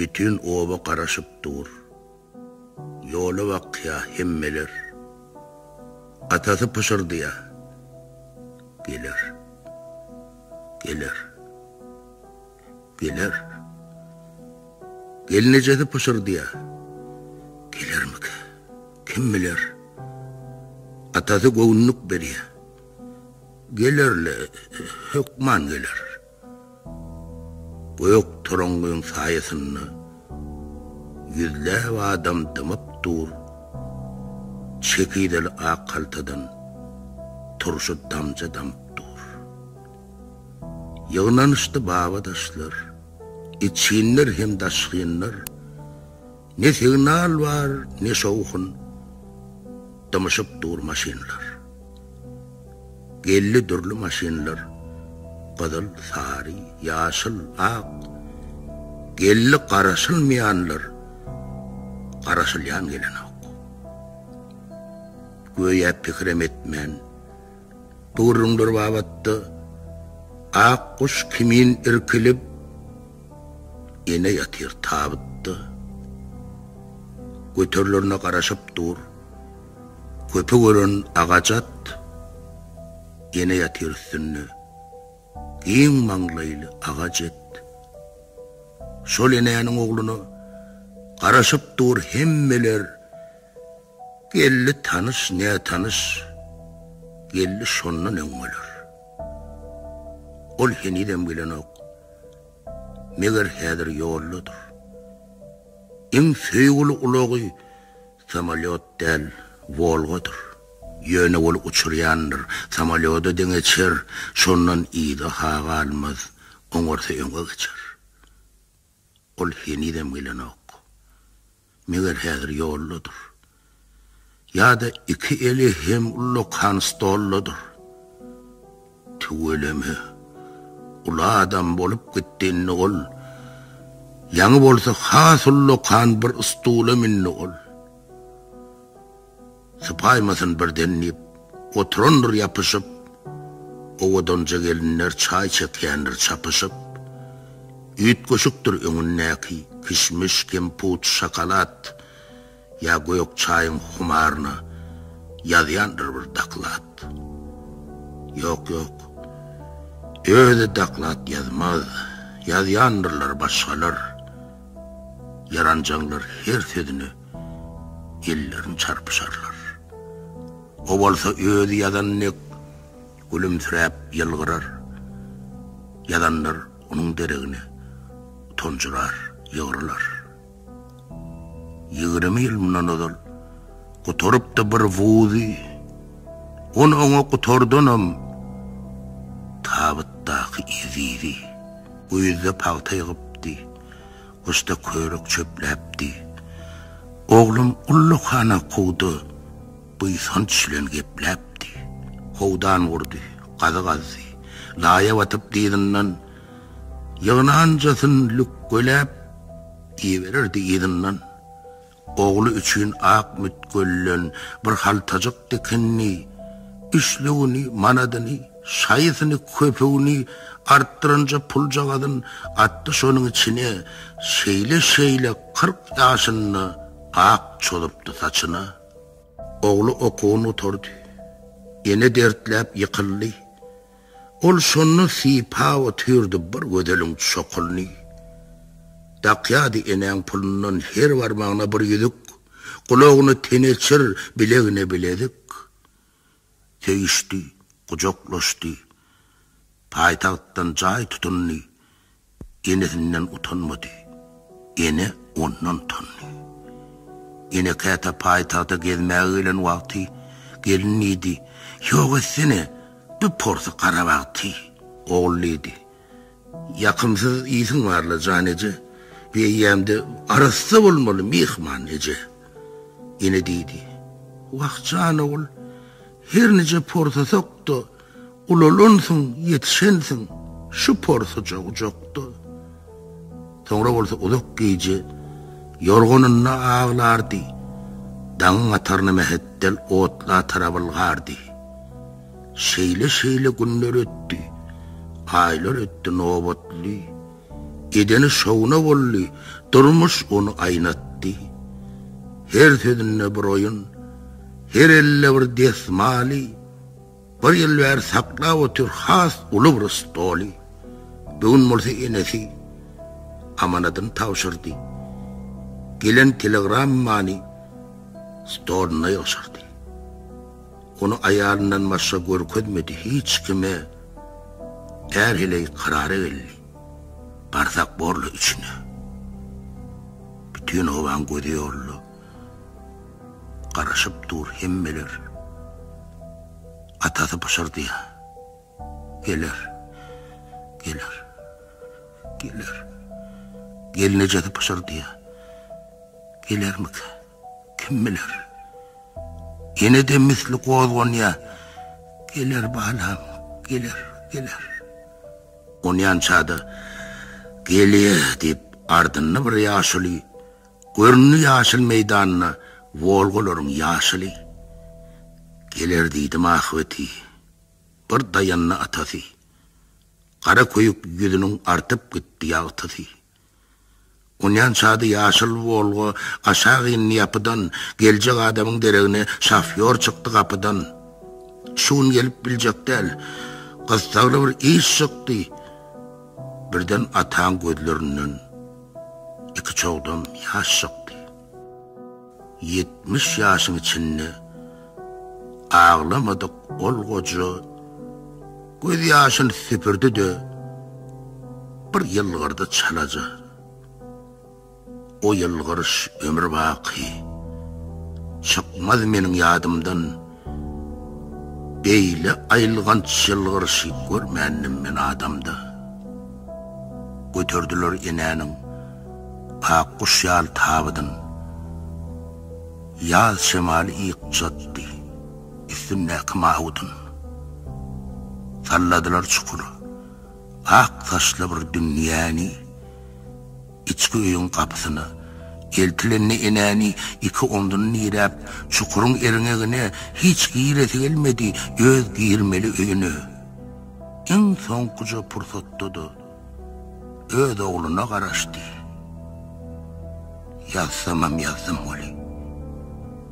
Bütin oba garaşyp dur. Ýola bakýa hemmeler. Atasy pyşyrdýa. Geler. Geler. Geler. Gelnejesi pyşyrdýa. Gelermika? Kim biler? Atasy göwünlik berýä. Geler-le, hökman geler. Gök toraňňyň saýasynda ýüzläp adam dymyp dur. Çekizeli ak haltadan turşy damja damyp dur. Ýygnanyşdy baba-daşlar, içginler hem daşgynlar. Ne signal bar, ne şowhun. Dymyşyp dur maşynlar. Geldi dürli maşynlar, Gyzyl, sary, ýaşyl, ak. Geldi garaşylmaýanlar, Garaşylýan gelenok. Göýä pikirem etmän. Gürrüňler babatda Ak guş kimin irkilip, Ene ýatyr tabytda. Göterilerine garaşyp dur, Köpük ören agaç at, Ene ýatyr üstünde, Giň maňlaýly aga jet. Şol enäniň ogluna Garaşyp dur hemmeler, Geldi tanyş, nätanyş geldi şondan öň bolar. Ol henizem gelenok. Meger häzir ýoldadyr. Iň söýgüli ulagy samolýot däl, Wolgadyr. Ýöne ol uçurýandyr, samolýoda deňeçer, şondan yza-ha galmaz, oňarsa öňe geçer. Ol henizem gelenok. Meger häzir ýoldadyr. Ýa-da iki eli hem ullakan stoldadyr. Tüweleme, uly adam bolup gitdi indi ol. Ýaňy bolsa has ullakan bir stula mündi ol. Sypaýmasyn birden diýip, oturandyr ýapyşyp, Owadanja gelinler çaý çekýändir çapyşyp. Üýtgeşikdir öňündäki, kişmiş, kemput, şokolad, Ýa gök çaýyň humaryna ýazýandyr bir doklad. Ýok, ýok, özi doklad ýazmaz, ýazýandyrlar başgalar, Ýaranjaňlar her sözüne ellerini çarpyşarlar. O bolsa özi ýazan dek gülümsiräp ýylgyrar. Ýazanlar onuň deregine tonjurar, ýygrylar. Ýigrimi ýyl mundan ozal gutarypdy bir wuzy. On oňa gutardanam tabytdaky ezizi. Güýzde pagta ýygypdy. Gusta körük çöpläpdi. Oglum ullakhana kowda buýsanç bilen gepläpdi. Howdan gurdy, gazy gazdy. Laýa batyp dyzyndan ýygnanjasyn lükgeläp iýibererdi yzyndan. Ogly üçin ak mütgölden bir haltajyk dikindi. Üçlügini, manadyny, şaýysyny, köpügini artdyranja puljagazyn atdy şonuň içine. Şeýle-şeýle kyrk ýaşynda ak çozupdy saçyna. Ogly okuwyn gutardy. Ene dertläp ýykyldy. Ol şonda sypa otyrdy bir gözeliň çokulyny. Dakýardy enäň pulundan her barmagyna bir ýüzük, gulagyna teneçir, bilegine bilezik. Söýüşdi, gujaklaşdy. Paýtagtdan jaý tutundy. Enesinden utanmady. Ene ondan utandy. Ene käte paýtagta gezmäge gelen wagty gelin diýdi, Ýok etsene, bir porsy garabag ty. Ogul diýdi, Ýakymsyz ýsiň bar-la, jan eje, bir eýýäm-de arassa bolmaly, myhman eje. Ene diýdi, Wah, jan ogul, her nije porsasak-da, Ulalansyň, ýetişensiň şu porsuja ujakda. Soňra bolsa uzak gije ýorganynda aglardy, daňyň ataryna mähetdel otla tarap ylgardy. Şeýle-şeýle günler ötdi, aýlar ötdi nobatly. Edeni şowuna boldy, durmuş ony aýnatdy. Her sözünde bir oýun, her elde bir desmaly, Bir ýyl bäri saklap otyr has uly bir stoly. Bu gün bolsa enesi amanadyny tabşyrdy. Gelen telegrammany stoluna ýygşyrdy. Ony aýalyndan başga görkezmedi hiç kime. Är heleý karara geldi. Barsak borly üçine. Bütin obaň gözi ýolda. Garaşyp dur hemmeler. Atasy pyşyrdýar. Geler. Geler. Geler. Gelnejesi pyşyrdýar. Gelermika? Kim biler? Ýene-de misli gozganýar. Geler balam, geler, geler. Onýança-da, Gelýär diýip, ardynda bir ýaşuly Göründi ýaşyl meýdanda Wolgalaryň ýaşyly. Geler diýdim ahybeti, bir daýandy atasy. Gara köýük ýüzüniň artyp gitdi ýagtysy. Onýan çady ýaşyl Wolga aşak indi ýapydan, geljek adamyň deregine şofýor çykdy gapydan. Şu gün gelip biljek däl, gyssagly bir iş çykdy. Birden ataň gözlerinden. Iki çogdam ýaş çykdy. Ýetmiş ýaşyň içinde aglamadyk ol goja göz ýaşyny süpürdi-de, bir ýylgyrdy çalaja. O ýylgyryş ömür baky çykmaz meniň ýadymdan. Beýle aýylganç ýylgyryşy görmändim men adamda. Göterdiler enäniň ak guş ýaly tabydyn. Ýaz şemaly ýykjatdy üstündäki mawydyn. Salladylar çukur, ak saçly bir dünýäni. Içki öýüň gapysyna eltilende enäni iki omzuny diräp, çukuryň erňegine hiç giresi gelmedi, öz girmeli öýüne iň soňkuja pursatda-da öz ogluna garaşdy. Ýazsamam ýazdym weli.